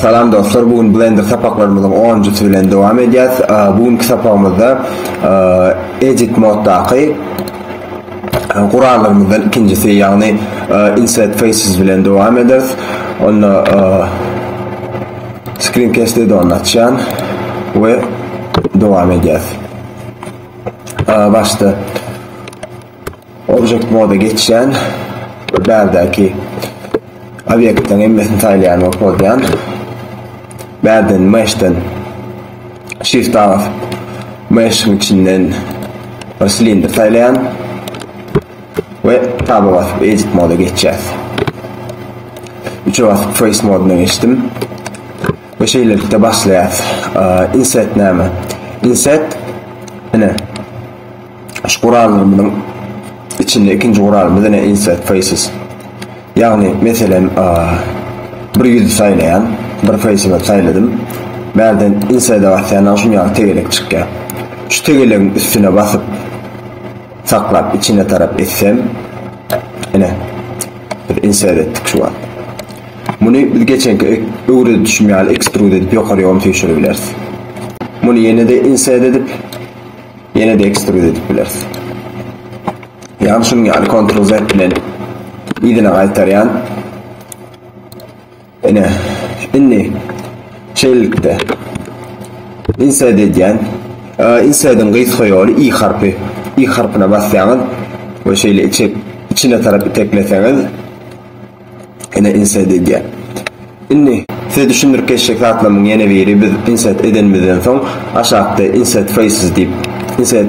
Salam dostlar, bu gün Blender sapaklarymyzyň 10-njysy bilen dowam edýäs. Bu günki sapagymyzda edit moddaky gurallarymyzdan ikinjisi, ýagny insert faces bilen dowam ederiz. Onda screen cast add-on açýan we dowam edýäs. Başda Object moda geçýän we bärdäki obýektleriň hemmesini saýlaýan we pozýan. Bärden meshden shift a basyp meshiň içinden bir silindr saýlaýan we taba basyp edit moda geçýäs. Üçe basyp face modyna geçdim. Ve şeýlelikde başlaýas. Inset näme? Inset ine Şu gurallarymyzyň içinde ikinji guralymyz ine insert faces. Ýagny meselem bir ýüzi saýlaýan, bir face-imi saýladym. Bärden insert-e basýandan şum ýaly tegelek çykýar. Şu tegelegiň üstüne basyp saklap içine tarap etsem ine biz insert etdik şu wagt. Muny biz geçenki öwredişim ýaly extrude edip ýokaryogam süýşüribileris. Muny ýene-de insert edip Ýene-de ekstrud edip bileris. Ýa-da şunuň ýaly Ctrl Z bilen yzyna gaýtarýan. Ine, indi şeýlelikde insert edýän. Insertiň gysga ýoly i harpy. I harpyna basýaňyz we şeýle içine tarap itekleseňiz, Ene inside edýär. Indi size düşündirip geçjek zatlarymyň ýene biri biz inside edenimizden soň aşakda inside faces diýip inside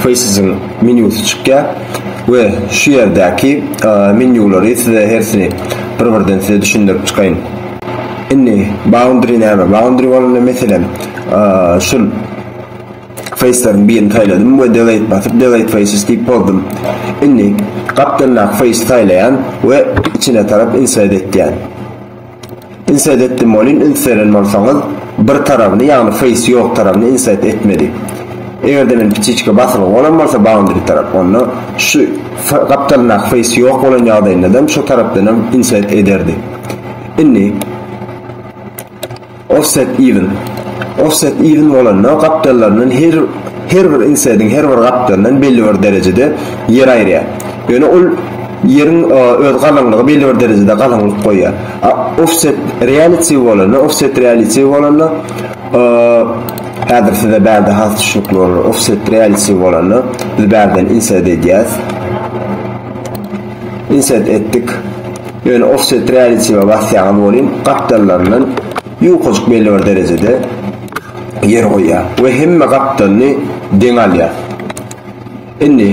facesiň menýusy çykýar we şu ýerdäki menýulary size hersini bir birden size düşündirip çykaýyn. Indi boundary näme? Boundary bolanda meselem şul Feýsleriň birini saýladym we Delete basyp Delete Faces diýip bozdum. Indi gapdaldaky feýsi saýlaýan we içine tarap insert etýän. Insert etdim welin üns beren bolsaňyz bir tarabyny ýagny feýsi ýok tarabyny insert etmedi. Eger-de men ptiçka basylgy bolan bolsa boundary tarap onda şu gapdalyndaky feýsi ýok bolan ýagdaýynda-da şo tarapdanam insert ederdi. Indi Offset even Offset even bolanda gapdallaryndan her her bir insediň her bir gapdalyndan belli bir derejede ýer aýyrýar. Ýöne ol ýeriň e, öz galyňlygy belli bir derejede galyňlyk goýýar. A offset reality bolanda, offset reality bolanda e, häzir size bärde has düşnükli bolar. Offset reality bolanda biz bärden insert edýäs. Insert etdik. Ýöne offset realitive basýaňyz welin gapdallaryndan ýukajyk belli bir derejede ýer goýýar we hemme gapdalyny deň alýar. Indi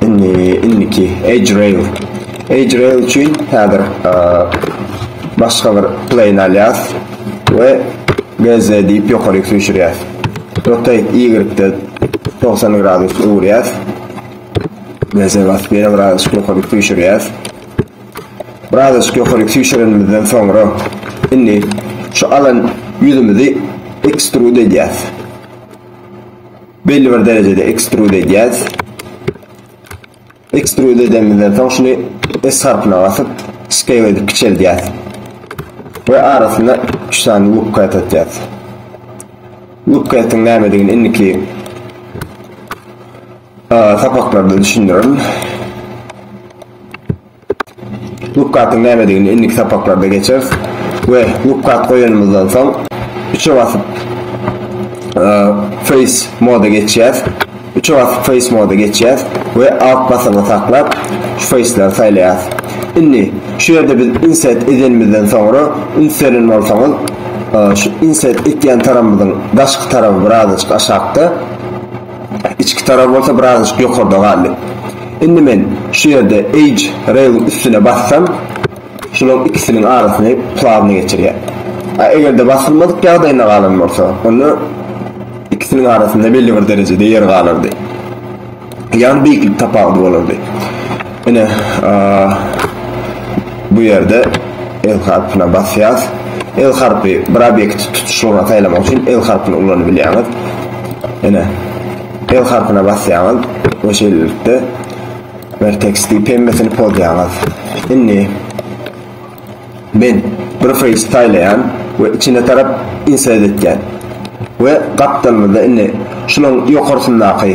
indi indiki edge rail edge rail üçin häzir başga bir plane alýas we BZ diýip ýokaryk süýşürýäs. Nokta Y-de 90 gradus öwürýäs. Meze basyp ýene biraz ýokary süýşürýäs. Biraz ýokary süýşürenimizden soňra indi şu alan ýüzümizi ekstrud edýäs. Belli bir derejede ekstrud edýäs. Ekstrud edendimizden soň şuny S harpyna basyp, scale edip kiçeldýäs. We arasyna üç sany loop cut atýas. Loop cut'yň nämedigini indiki sapaklarda düşündirerin. Lukgatyň nämedigini indiki sapaklarda geçeris we lukgat goýanymyzdan soň üçe basyp face moda geçýäs. Üçe basyp face moda geçýäs we alt basygy saklap şu faceleri saýlaýas. Indi şu ýerde biz insert edenimizden soňra üns beren bolsaňyz şu insert etýän tarapymyzyň daşky tarapy birazajyk aşakda. Içki tarar bolsa birazajyk ýokarda galdy. Indi men şu ýerde Edge Rail-iň üstüne bassam, şularyň ikisiniň arasyny plawny geçirýär. A eger-de basylmadyk ýagdaýynda galan bolsa, onda ikisiniň arasynda belli bir derejede ýer galardy. Ýagny beýiklik tapawudy bolardy. Ine, bu ýerde L harpyna basýas. L harpy bir obýekti tutuşlygyna saýlamak üçin L harpyny ulanyp bilýäňiz. Ine, L harpyna basýaňyz we şeýlelikde vertex diýip hemmesini pozýaňyz. Indi men bir face saýlaýan we içine tarap insert etýän. We gapdalymyzda indi şunuň ýokarsyndaky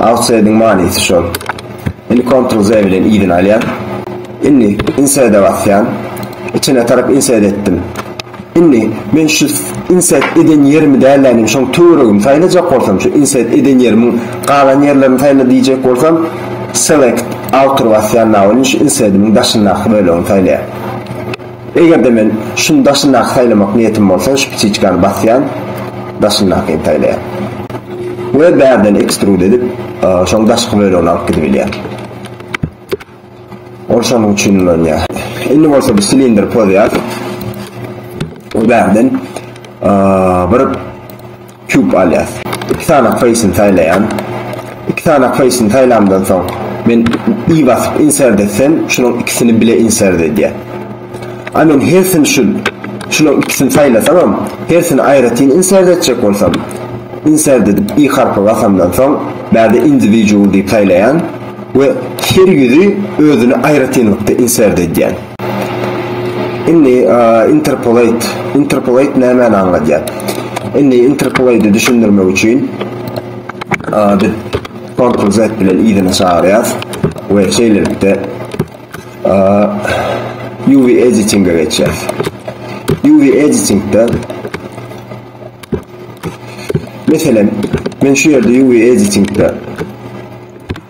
Outside-iň manysy şol. Indi Ctrl Z bilen yzyny alýan. Indi Insert-e basýan. Içine tarap insert etdim. Indi men şu insert eden ýerimi däl-de indi şoň töweregini saýlajak bolsam şu insert eden ýerimiň galan ýerlerini saýla diýjek bolsam Select Outer basýan now indi şu insert-imiň daşyndaky bölegini saýlaýan. Eger-de men şuny daşyndaky saýlamak niýetim bolsa şu ptiçkany basýan daşyndakyny saýlaýan. We bärden ekstrud edip şoň daşky bölegini alyp gidibilýän. Ol şonuň üçin ulanýa. Indi bolsa biz silindr pozýas. We bärden bir Cube alýas. Iki sany face-ni saýlaýan. Iki sany face-ni saýlamdan soň men i basyp insert etsem şunuň ikisini bile insert edýär. A men hersini şu şunuň ikisini saýlasamam hersini aýratyn insert etjek bolsam insert edip i harpy basamdan soň bärde individual diýip saýlaýan we her ýüzi özüni aýratynlykda insert edýän. Indi interpolate, interpolate nämäni aňladýar? Indi interpolate düşündirmek üçin biz Ctrl Z bilen yzyna çagyrýas we şeýlelikde UV editinge geçýär. UV editingde Meselem, men şu ýerde UV editingde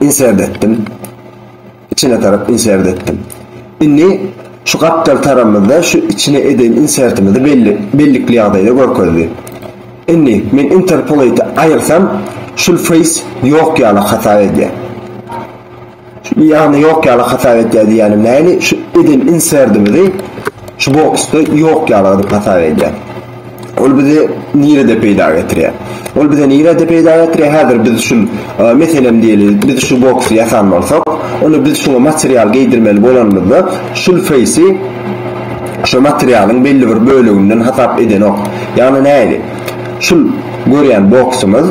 insert etdim. Içine tarap insert etdim. Indi şu gapdal taramyzda şu içine eden insertimizi belli bellikli ýagdaýda görkezdi. Indi men interpolate aýyrsam şul face ýok ýaly hasap edýär. Ýagny ýok ýaly hasap edýär diýýänim nähili şu eden insertimizi şu boksda ýok ýaly edip hasap edýär. Ol bizi nirede peýda getirýär? Ol bize nirede peýda getirýär? Häzir biz şu, meselem diýeli, biz şu boksy ýasan bolsak, onda biz şuňa material geýdirmeli bolanymyzda, şul feýsi şo materialyň belli bir böleginden hasap edenok. Ýagny nähili? Şul görýän boksumyz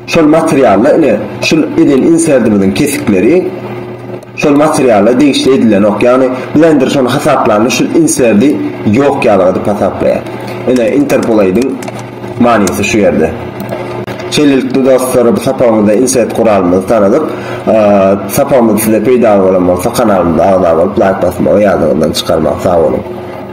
şol materialda ine, şul eden inserdimiziň kesikleri, Şol materiala degişli edilenok ýagny blender şony hasaplanda şul inserdi ýok ýalyga edip hasaplaýar. Ine interpolate'iň manysy şu ýerde. Şeýlelikde dostlar bu sapagymyzda insert guralymyzy tanadyk. Sapagymyz size peýdaly bolan bolsa kanalymyza agza bolup laýk basmagy ýadyňyzdan çykarmaň sag boluň.